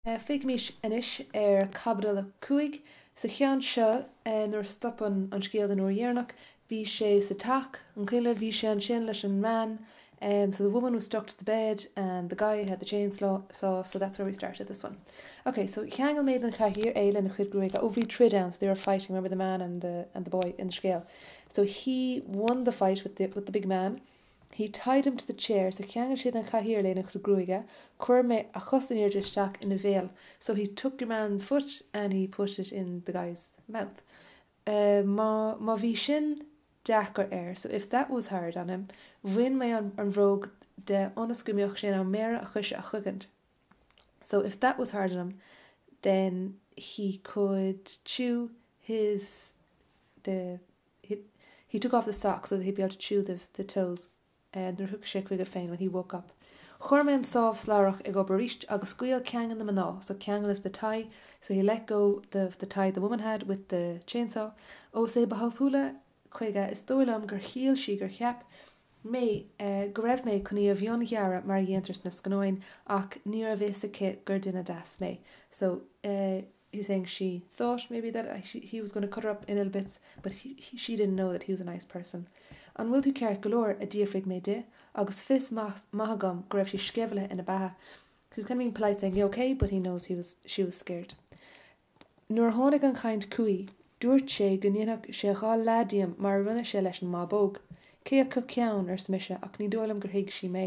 Féachaimís anois ar Caibidil 5. Sa cheann seo, nuair a stop an scéal an uair dheireanach, bhí sé sa teach, an cailleadh, bhí sé ansin leis an mbean, so the woman was stuck to the bed and the guy had the chain saw so that's where we started this one. Ok, so cheangail mé den chathaoir é lena chuid gruaige, oh bhí troid ann, so they were fighting, remember the man and the and the boy in the scéal, so he won the fight with the with the big man. He tied him to the chair, so cheangail sé den chathaoir é lena chuid gruaige, chuir mé a chos in airde isteach ina bhéal, so he took your man's foot and he put it in the guy's mouth. má, má bhí sin deacair air, so if that was hard on him. Bhain mé an, an bhróg de ionas go mbeadh sé in ann méara a choise a chogaint, so if that was hard on him then he could chew his, the, he, he took off the socks so that he'd be able to chew the, the toes nuair a thiocfadh sé chuige féin when he woke up chuir mé an sábh slabhrach ag obair arís agus scaoil ceangail na mná so ceangail is the tie so he let go the, the tie the woman had with the chainsaw ós é ba thapúla chuige is dóigh liom gur shíl sí gur cheap mé go raibh mé chun í a mhionghearradh mar a dhéantar sna scannáin ach ní raibh a fhios aici gur duine deas mé so eh, he was saying she thought maybe that she, he was going to cut her up in little bits but he, she didn't know that he was a nice person'. 'An bhfuil tú ceart go leor? a d'fhiafraigh mé di agus fios maith agam go raibh sí sceimhlithe ina beatha. So he's kind of being polite saying, you okay? but he knows he was, she was scared. Nuair a tháinig an chaint chuici, dúirt sé go ndéanfadh sé dhá leath díom mar a rinne sé leis an mbábóg. 'Cé acu ceann? arsa mise ach ní dóigh liom gur thuig sí mé.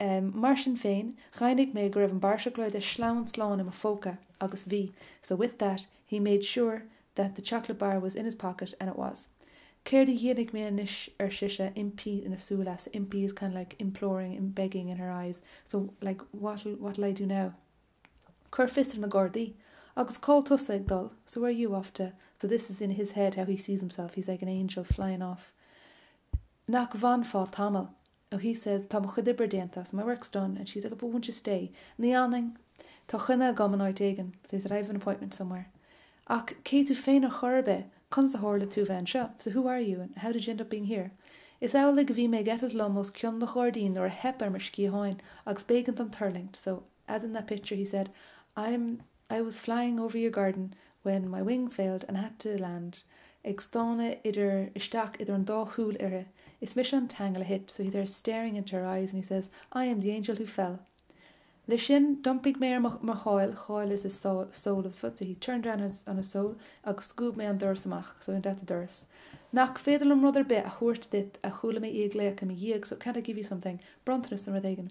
Mar sin féin, dheimhnigh mé go raibh an barra seacláide sleamhain slán i mo phóca, agus bhí, so with that, he made sure that the chocolate bar was in his pocket, and it was. Céard a dhéanfaidh mé anois, ar sise, impí ina súile, so, impí is kind of like imploring, begging in her eyes, so like what'll, what'll I do now? Cuir fios ar na gardaí. Agus cá bhfuil tusa ag dul? So where are you off to? So this is in his head how he sees himself, he's like an angel flying off. Nach bhfanfá tamall? oh he says tá mo chuid oibre déanta so my work's done and she's like oh but won't you stay ní fhanfainn, tá coinne agam in áit éigin so I have an appointment somewhere ach cé tú féin ar chor ar bith, conas a tharla tú bheith anseo so who are you and how did you end up being here? Is amhlaidh a bhí mé ag eitilt liom os cionn an ghairdín nuair a theip ar mo sciatháin agus b'éigean dom tuirlingt so as in that picture he said I'm I was flying over your garden when my wings failed and had to land ag stánadh idir, isteach idir an dá shúil uirthi, is mise an t-aingeal a thit so he's there staring into her eyes and he says, I am the angel who fell. Leis sin, d'iompaigh mé ar mo, mo sháil, sháil is a sole, sole of his foot so he turned around on his, on his sole agus scuab mé an doras amach so I went out the doras. Nach féidir liom rud ar bith a thabhairt duit a chuala mé í ag glaoch i mo dhiaidh so can't I give you something? bronntanas nó rud éigin.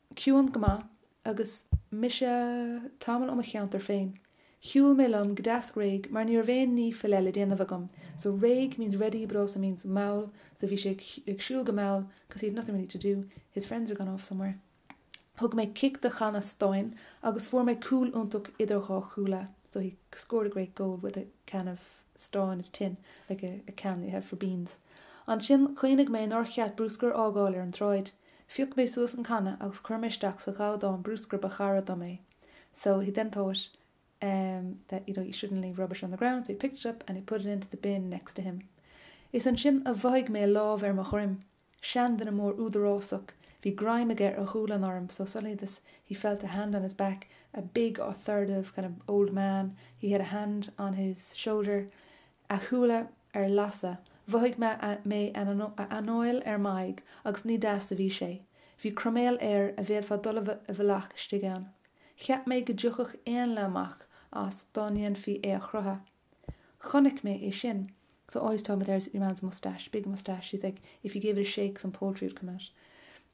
ciúin go maith agus mise tamall ó mo cheantar féin. Shiúil mé liom go deas réidh mar ní raibh aon ní faoi leith le déanamh agam, so réidh means ready but also means mall, so bhí sé ag siúl go mall because he had nothing really to do, his friends had gone off somewhere. Thug mé cic do channa stáin agus fuair mé cúl iontach idir dhá chuaille, so he scored a great goal with a can of stáin is tin, like a can that you have for beans. Ansin chuimhnigh mé nár cheart brúscar a fhágáil ar an tsráid. Phioc mé suas an canna agus chuir mé isteach sa ghabhdán brúscair ba chara dom é, so he then thought ehm that you know you shouldn't leave rubbish on the ground so he picked it up and he put it into the bin next to him. Is ansin a mhothaigh mé lámh ar mo dhroim, seanduine mór údarásach, bhí greim aige ar ghualainn orm so suddenly this he felt a hand on his back, a big authoritative kind of old man, he had a hand on his shoulder, a shúile. ar lasadh. Mhothaigh mé a anáil ar m'aghaidh agus ní deas a bhí sé. Bhí croiméal air a bhféadfá dul i bhfolach istigh ann. Cheap mé go dtiocfadh éanlaith amach as dá ndéanfaí é a chroitheadh. Chonaic mé é sin. So all he's talking about there is your man's moustache, big moustache, he's like if you gave it a shake some poultry would come out.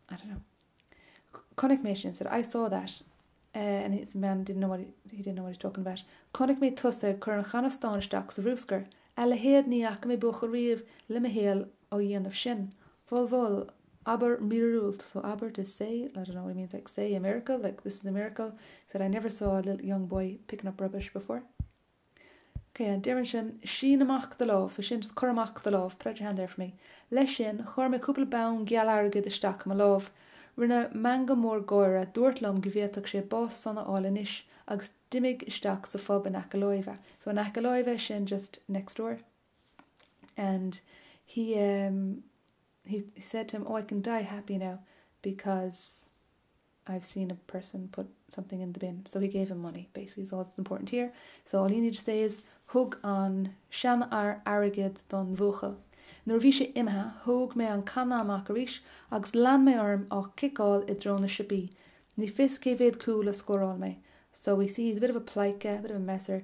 I don't know. chonaic mé sin, said I saw that and his man didn't know what he didn't know what he's talking about chonaic mé tusa ag cur an channa stáin isteach sa bhrúscar, a leithéad ní fhaca mé buachaill riamh le mo shaol á dhéanamh sin, bhol bhol, abair míorúilt so abair to say, I don't know what he means like say a miracle, like this is a miracle, said I never saw a little young boy picking up rubbish before. OK. Deireann sin, Sín amach do lámh. So sin, Cuir amach do lámh. Put out your hand there for me. Leis sin, chuir mé cúpla bonn geal airgid isteach i mo lámh. Rinne meangadh mór gáire, dúirt liom go bhféadfadh sé bás sona a fháil anois, agus d'imigh isteach sa phub in aice láimhe. So in aice láimhe, sin just next door. And he, um, he, he said to him, Oh, I can die happy now because. I've seen a person put something in the bin, so he gave him money, basically is all that's important here. So all you need to say is Thug an seanfhear airgead don bhuachaill. Nuair a bhí sé imithe, thóg mé an canna amach arís agus lean mé orm á chiceáil i dtreo na siopaí. Ní fios cé mhéad cúl a scóráil mé. So we see he's a bit of a pleidhce, a bit of a messer,